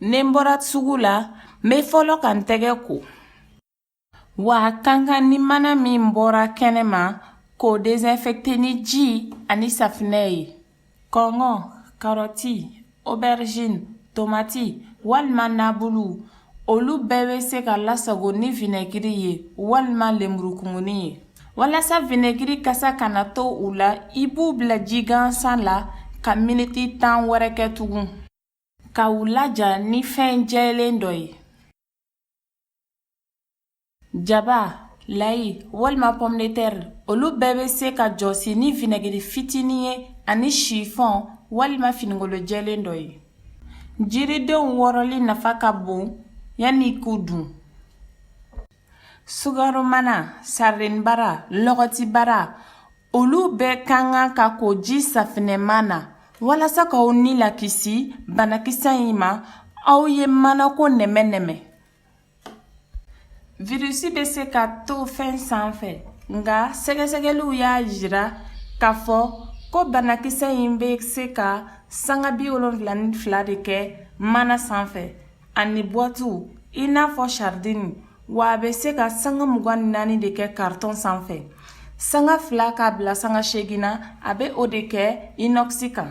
Ni n bɔra sugu la n bɛ fɔlɔ ka n tɛgɛ ko wa a ka kan ni mana min bɔra kɛnɛ ma k'o désinfecter ni ji ani safinɛ ye kɔnkɔn karɔti aubergine tomati walima nabuluw olu bɛɛ bɛ se ka lasago ni vinaigiri ye walima lemurukumuni ye walasa vinaigiri kasa kana to u la i b'u bila ji gansan la ka miniti tan wɛrɛ kɛ tugun ka u laja ni fɛn jɛlen dɔ ye Jaba, layi walima pomme de terre olu bɛɛ bɛ se ka jɔsi ni vinɛgiri fitinin ye ani sifɔn walima finikolo jɛlen dɔ ye jiridenw wɔrɔli nafa ka bon yanni i k'u dun sugaromana saridinibara lɔgɔtibara olu bɛɛ ka kan ka ko ji safinɛma na walasa k'aw ni lakisi banakisɛ in ma aw ye manako nɛmɛ-nɛmɛ Virusi bɛ se ka to fɛn sanfɛ nka sɛgɛsɛgɛliw y'a jira k'a fɔ ko banakisɛ in bɛ se ka sanga bi wolonfila ni fila de kɛ mana sanfɛ ani buwatiw i n'a fɔ saridini wa a bɛ se ka sanga mugan ni naani de kɛ karitɔn sanfɛ sanga fila k'a bila sanga seegin na a bɛ o de kɛ inɔkisi kan